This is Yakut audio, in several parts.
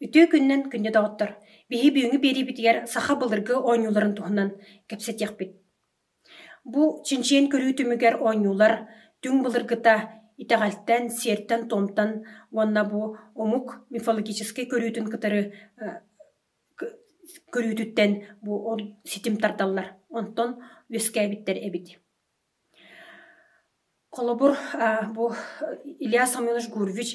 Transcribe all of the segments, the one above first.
Үтүө күнүнэн күндү доҕоттор! Биһи бүгүҥҥү биэриибитигэр саха былыргы оонньууларын туһунан кэпсэтиэхпит. Бу чинчиэн көрүү түмүгэр оонньуулар түҥ былыргыта итэҕэлтэн, сиэртэн-туомтан уонна бу омук мифологическай көрүүтүн кытары көрүүтүттэн бу ол ситим тардаллар онтон үөскээбиттэр эбит холобур бу илья самойлович гурвич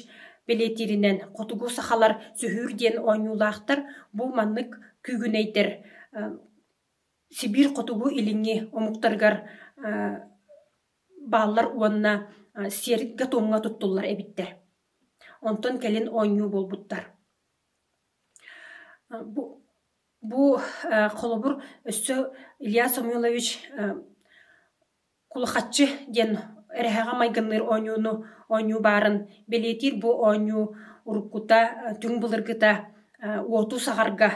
бэлиэтииринэн хотугу сахалар сүһүүр диэн оонньуулаахтар бу маннык күүгүнэйдэр сибиир хотугу илиҥҥи омуктарыгар бааллар уонна сиэргэ-туомҥа туттуллар эбиттэр онтон кэлин оонньуу буолбуттар Бу бу холобур өссө Илья Самойлович кулахаччы диэн эрэһэҕэ майгынныыр оонньууну оонньуу баарын бэлиэтиир бу оонньуу уруккута түҥ былыргыта уоту саҕарга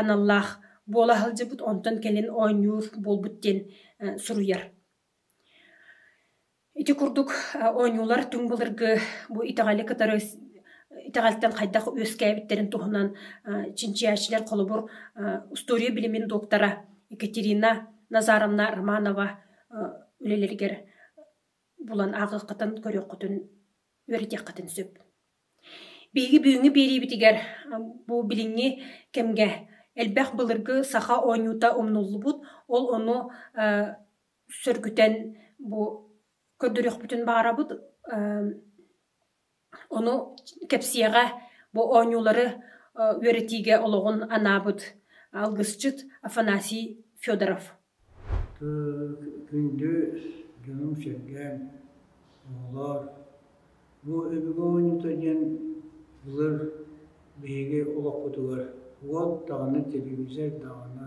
аналлаах буола сылдьыбыт онтон кэлин оонньуур буолбут диэн суруйар. Ити курдук оонньуулар түҥ былыргы бу итэҕэли кытары итэҕэлтэн хайдах үөскээбиттэрин туһунан чинчийээччилэр холобур устуоруйа билимин доктора Екатерина Назаровна Романова үлэлэригэр булан ааҕыаххытын, көрүөххүтүн, үөрэтиэххитин сөп. Биһиги бүгүҥҥү биэриибитигэр бу билиҥҥи кэмгэ элбэх былыргы саха оонньуута умнуллубут, ол ону сөргүтэн бу көрдөрүөхпүтүн баҕарабыт ону кэпсиэҕэ бу оонньуулары үөрэтиигэ олоҕун анаабыт алгысчыт Афанасий Федоров Күндү дьонум-сэргэм оҕолоор бу өбүгэ оонньуута диэн былыр биһиги олохпутугар уот даҕаны телевизор даҕаны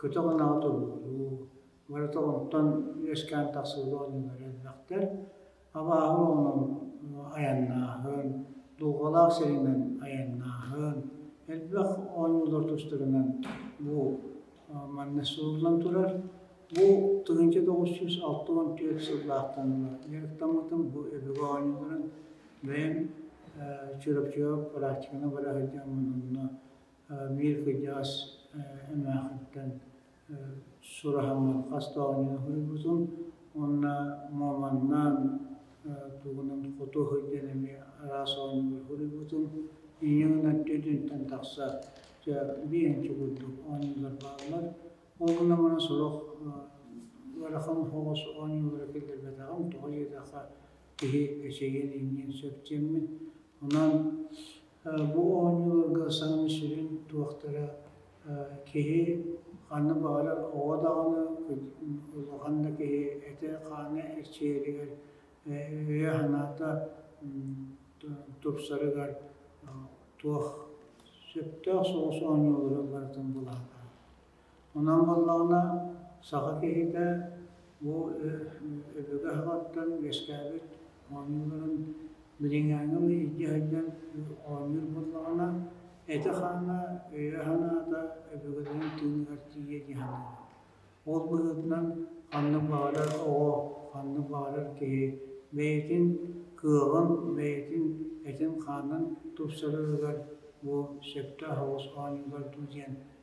көтөх ынаҕы тобулуу, барыта онтон үөскээн тахсыбыт оонньуулар элбэхтэр. Абааһы оҕонон айаннааһын, дулҕалаах сиринэн айаннааһын, элбэх оонньуулар тустарынан бу манна суруллан турар. Бу тыһыынча тоҕус жүз алта уон түөрт сыллаахтан дьарыктаммытым. Бу өбүгэ оонньууларын бэйэм Чурапчыга практиканы бара сылдьан онно биир кырдьаҕас эмээхиттэн сураһыммыт хас да оонньуу суруйбутум уонна маманнаан тугунан хоту сылдьан эмиэ араас оонньуулар суруйбутум ийэҥ өттүтүнтэн тахса биэнчи курдук оонньуулар бааллар онно мана сорох ыарахан соҕус оонньуулара киллэрбэтэҕим тоҕо диэтэххэ киһи эчэйиэн инниин сөп диэммин Онон бу оонньууларга саҥа сүрүн туохтара киһи ханна баҕарар оҕо даҕаны улахан да киһи этэ-хаана эрчийэригэр, өйө-санаата тупсарыгар туох сөптөөх соҕус оонньуулары барытын былаатар. Онон буоллаҕына, саха киһитэ бу өбүгэ аһыгыттан үөскээбит оонньууларын билиҥҥээҥҥи илдьэ сылдьан оонньуур буоллаҕына, этэ-хаана, өйө-санаата өбүгэлэрин тыыныгар тиийэ дии саныыбын. Ол быһыытынан ханнык баҕарар оҕо, ханнык баҕарар киһи бэйэтин кыаҕын, бэйэтин этин-хаанын тупсарарыгар бу сөптөөх оҕус оонньуулар дуу диэн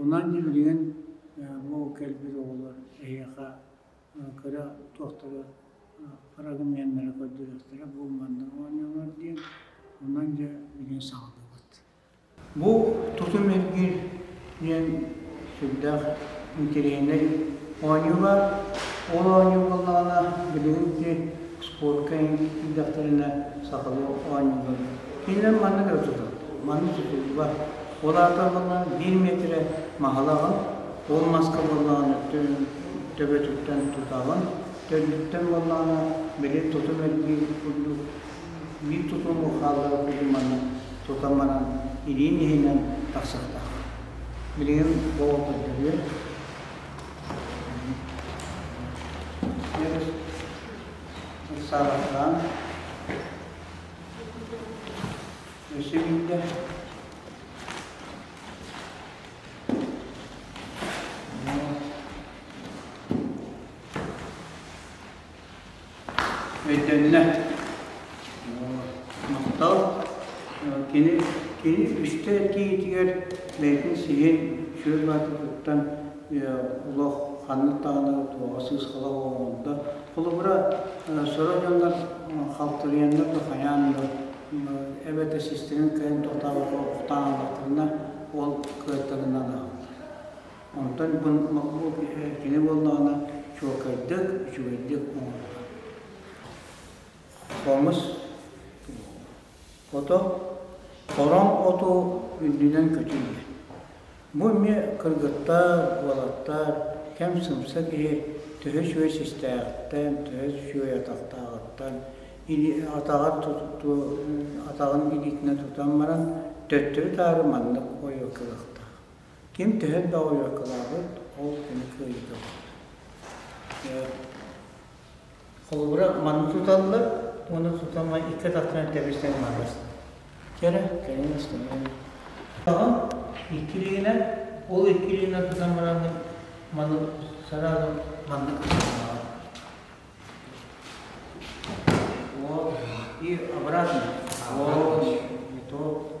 Онон дьиҥилигин бу кэлбит оҕолор эһиэхэ кыра туохтары фрагменнары көрдөрүөхтэрэ бу манна оонньуулар диэн онон дьэ билин саҕаллыбыт. Бу тутум эргир диэн сүрдээх интириэһинэй оонньуулар. Ол оонньуу буоллаҕына билигин ити спортка ирдэхтэринэ сахалыы оонньуулар. Кинилэр маннык да тутуллар. Маннык тутуллубат. Ол аатырбыта биир миэтирэ маһылаҕа ол маска буоллаҕына төбөтүттэн тутаҕын, төрдүттэн буоллаҕына били тутум элбиир курдук биир тутум бухааллара кудуманы тута баран илиин иһинэн тахсыахтаах. Билигин болото көрүө. Саалатаан Өссө биирдэ. Өйдөннө. Махтал. Кини, кини үстэ киһитигэр бэйэтин сиһин шөл баатытыттан олох ханнык даҕаны туоҕа сыысхала оҥордо. Холобура, сора дьоннор халтырыйаннар да хайаан да эбэтэр системин кыайан тохтообокко охтоон ыллахтарына ол кыайтарынан аһаллар. Онтон бу кини буоллаҕына чуолкайдык, үчүгэйдик оҥоруллар. Хомус ото, хороҥ оту үрдүнэн көтүллэр. Бу эмиэ кыргыттар, уолаттар, кэм сымса киһи төһө үчүгэй систээхтэн, төһө үчүгэй атахтааҕыттан, или атаҕар туту атаҕын илиитинэн тутан баран төттөрү-таары маннык ойуо кыахтаах. Ким төһө да ойуо кылаабыт, ол кини кыайыыта буолар. Холобура, маны туталлар уонна тутама икки атахтан тэбирсэн барар. Кэрэ, кэннин ыстымын. Иккилиинэ, ол иккилиинэ тутан баран маны сразу маннык Вот. И обратно. Вот. И то.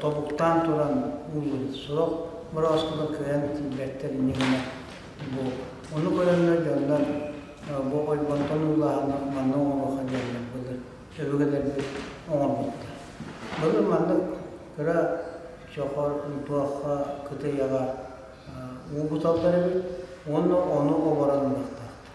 тобуктаан туран ууллубут сорох борооскуга кыайан тиийбэттэр иннигинэ бу ону көрөннөр дьоннор бу ойбонтон уулааһын манна оҥоруохха диэннэр былыр өбүгэлэрбит оҥорбуттар былыр маннык кыра чохор туохха кытыйаҕа уу буталлар эбит уонна ону оборон ылыахтаахтар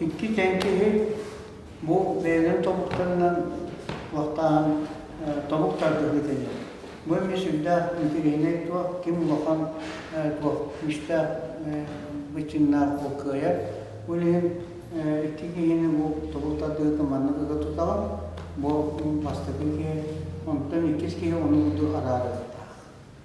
Икки тэҥкиһи бу бэйэлэрин тобуктарынан лахтааһын тобук тардыһыыта диэн. Бу эмиэ сүрдээх интэриэһинэй дуо, ким улахан дуо, күүстээх быччыҥнаах ол кыайар. Бу иһин икки киһини бу тобук тардыһыытын маннык ыга тутаҕын, бу бастакы киһи, онтон иккис киһи ону курдук араарыахтаах.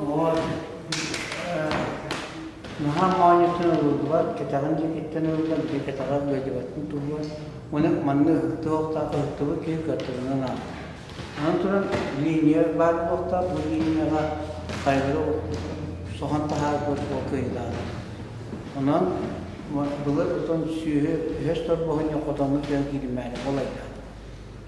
Уот наһаа моонньуттан ылыллыбат, кэтэҕин дьикиттэн ыллар, бу кэтэҕэр быдьыбаттан туллар. Уну манна ыһыктыһыахтаах, ыһыктыбыт киһи кыаттырынан ааҕар. Аны туран линия баар буолуохтаах, бу линияҕа хайалара соһон таһаарбыт ол кыайылаах. Онон былыр отон сүөһү өһөс торбоһунньук хотоҥҥут дьон кииримээрэ ол айдаан.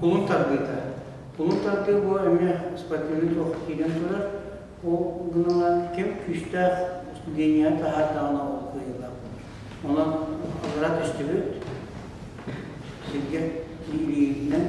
Кулун тардыыта. Кулун тардыы бу эмиэ спортивный туох киирэн турар. Ол гынан ким күүстээх линияны таһаардаҕына ол кыайыылаах Онон аллара түстүбүт. Сиргэ илиитинэн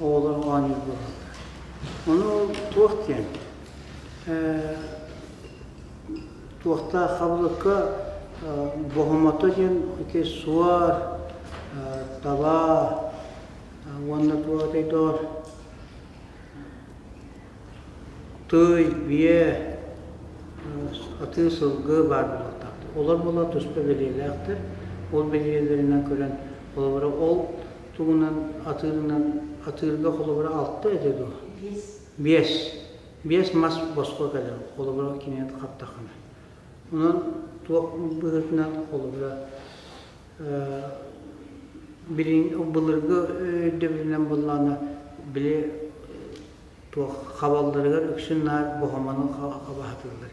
оҕолор оонньуур буолаллар. Ону туох диэн? Туохтаах хабылыкка бохомото диэн ити суор, таба уонна бу отойдоор тый, бие, атыы сылгы баар буолуохтаахтар. Олор буолар туспа бэлиэлээхтэр. Ол бэлиэлэринэн көрөн, холобура ол тугунан атыырынан атыырга холобура алта этэ дуо? Биэс. Биэс. Биэс мас босхо кэлэр холобура киниэт хаптахына. Онон туох быһыытынан холобура былыргы өйдөбүлүнэн буллаана били туох хабалларыгар үксүн наар бохомону хабаһатыллар.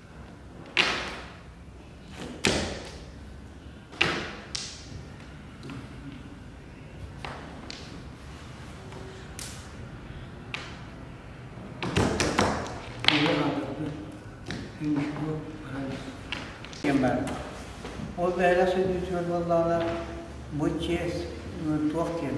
Ол бэйэлээх сөдүүтүгэр буоллаҕына бу чиэс туох диэн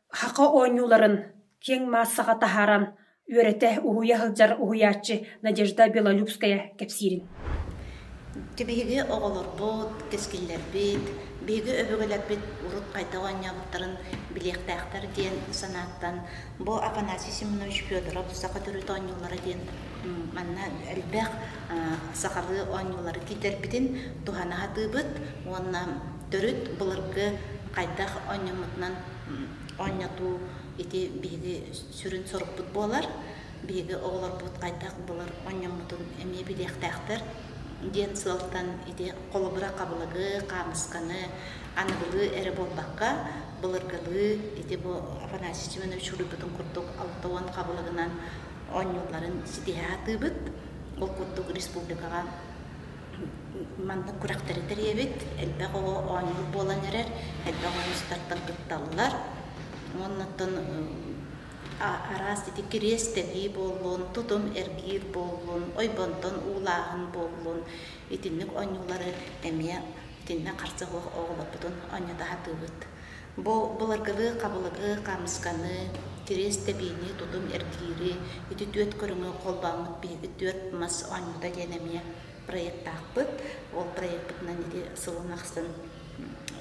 Хаха оонньууларын киэҥ маассаҕа таһааран үөрэтэ уһуйа сылдьар уһуйааччы Надежда Белолюбская кэпсиирин Ити биһиги оҕолорбут, кэскиллэрбит, биһиги өбүгэлэрбит урут хайдах оонньообуттарын билиэхтээхтэр диэн санааттан бу Афанасий Семенович Федоров саха төрүт оонньуулара диэн манна элбэх сахалыы оонньуулары киитэрбитин туһана сатыыбыт уонна төрүт былыргы хайдах оонньоммутунан оонньотуу ити биһиги сүрүн сорукпут буолар биһиги оҕолорбут хайдах былыр оонньоммутун эмиэ билиэхтээхтэр диэн сыалтан ити холобура хабылыгы хаамысканы аныгылыы эрэ буолбакка былыргылыы ити бу афанасий семенович суруйбутун курдук алта уон хабылыгынан оонньуулларын ситиһэ сатыыбыт ол курдук республикаҕа Маннык күрэхтэри тэрийэбит. Элбэх оҕо оонньуур буолан эрэр, элбэх ойуустартан кытталлар. Оннуттан араас ити кириэс тэнии буоллун, тутум эргиир буоллун, ойбонтон уулааһын буоллун, итинник оонньуулары эмиэ итиннэ харса суох оҕолорбутун оонньото сатыыбыт. Бу былыргылыы хабылыгы, хаамысканы, кириэс тэбиини, тутум эргиири, ити түөрт көрүҥү холбооммут биһиги түөрт мас оонньуута диэн эмиэ проектаахпыт. Ол проекпытынан ити сылын ахсын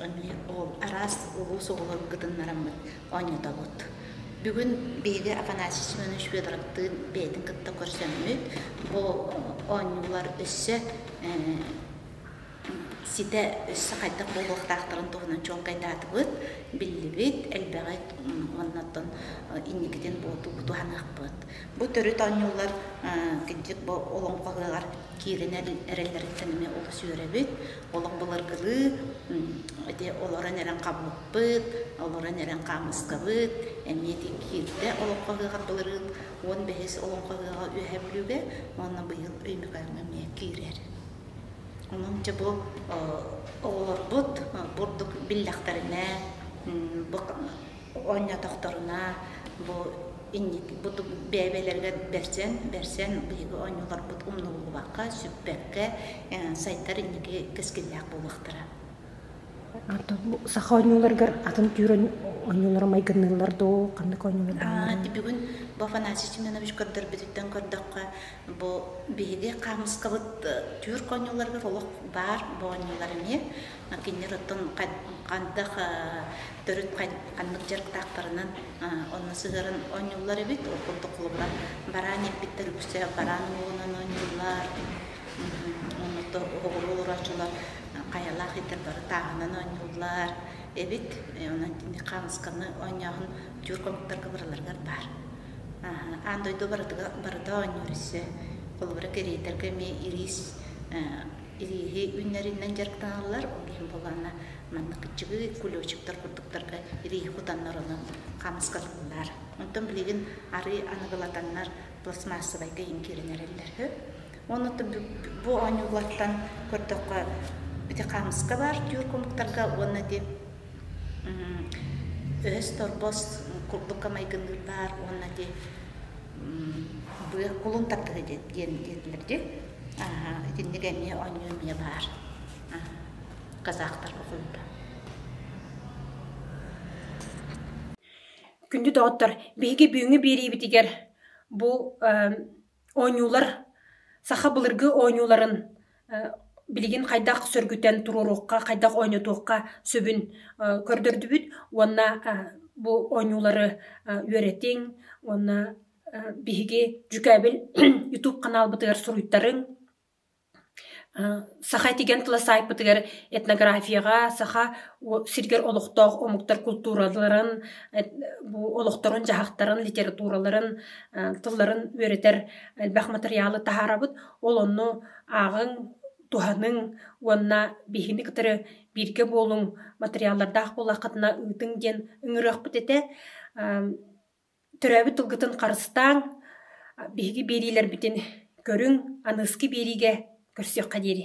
эмиэ ол араас улуус оҕолорун кытыннараммыт оонньотобут. Бүгүн биһиги Афанасий Семенович Федоровтыын бэйэтин кытта көрсөммүт. Бу оонньуулар өссө ситэ өссө хайдах буолуохтаахтарын туһунан чуолкайдаатыбыт, биллибит, элбэҕи оннуттан инникитин буолту туһаныахпыт. Бу төрүт оонньуулар кырдьык бу олоҥхо ыһыаҕар киирэн эрэллэриттэн эмиэ олус үөрэбит. Олох былыргылыы ити олорон эрэн хабыппыт, олорон эрэн хаамыскабыт эмиэ ити киирдэ олоҥхо ыһыаҕар былырыын уон бэһис олоҥхо ыһыаҕа Үөһээ Бүлүүгэ уонна быйыл Өймөкөөҥҥө эмиэ киирэр. Онон дьэ бу оҕолорбут бурдук биллэхтэринэ бу оонньоотохторуна бу инники бу бэйэбэлэригэр бэрсэн бэрсэн биһиги оонньууларбыт умнуллубакка сүппэккэ сайдар инники кэскиллээх буолуохтара саха оонньууларыгар атын түүр оонньуулара майгынныыллар дуу ханнык оонньуулар бүгүн бу афанасий семенович көрдөрбүтүттэн көрдөххө бу биһиги хаамыскабыт түүрк оонньууларыгар олох баар бу оонньуулар эмиэ кинилэр оттон хандах төрүт ханнык дьарыктаахтарынан онно сыһыаран оонньууллар эбит ол курдук холобура бараан ииппиттэр үксэ бараан уолунан оонньууллар онно оҕуруол урааччылар хайалаах итэ бары тааһынан оонньууллар эбит онон кини хаанысканы оонньооһун тюр комуктарга барыларыгар баар аан дойду барытыга барыта оонньуур өссө холобура кэриэтэргэ эмиэ ириис ирииһи үүннэриинэн дьарыктаналлар ол иһин буоланна маннык кыччыгы кулечиктар курдуктарга ирииһи кутаннарынан хаамыскатыллар онтон билигин арыы аныгылатаннар пластмассабайга иҥкирэн эрэллэр Уонна бу оонньуулартан көрдөххө, ити хаамыска баар түүр кумуктарга уонна ити өһөс торбос курдука майгынныыр баар уонна ити быа кулун тардыһы диэн диэтилэр дии. Итинник эмиэ оонньуу эмиэ баар. Казахтар оқуйда. Күндү доҕоттор, биһиги бүгүҥҥү биэриибитигэр бу оонньуулар саха былыргы оонньууларын билигин хайдах сөргүтэн туруоруохха, хайдах оонньотуохха сөбүн көрдөрдүбүт уонна бу оонньуулары үөрэтиҥ уонна биһиги дьүкээбил YouTube ханаалбытыгар суруйтарыҥ. Саха тигэн тыла саайпытыгар этнографияҕа саха сиригэр олохтоох омуктар култуураларын, бу олохторун-дьаһахтарын, литератураларын, тылларын үөрэтэр элбэх матырыйаалы таһаарабыт. Ол онно ааҕыҥ, туһаныҥ уонна биһини кытары бииргэ буолуҥ матырыйааллардаах буоллаххытына ыытыҥ диэн ыҥырыахпыт этэ. Төрөөбүт тылгытын харыстааҥ, биһиги биэриилэрбитин көрүҥ, аныыскы биэриигэ көрсүөххэ диэри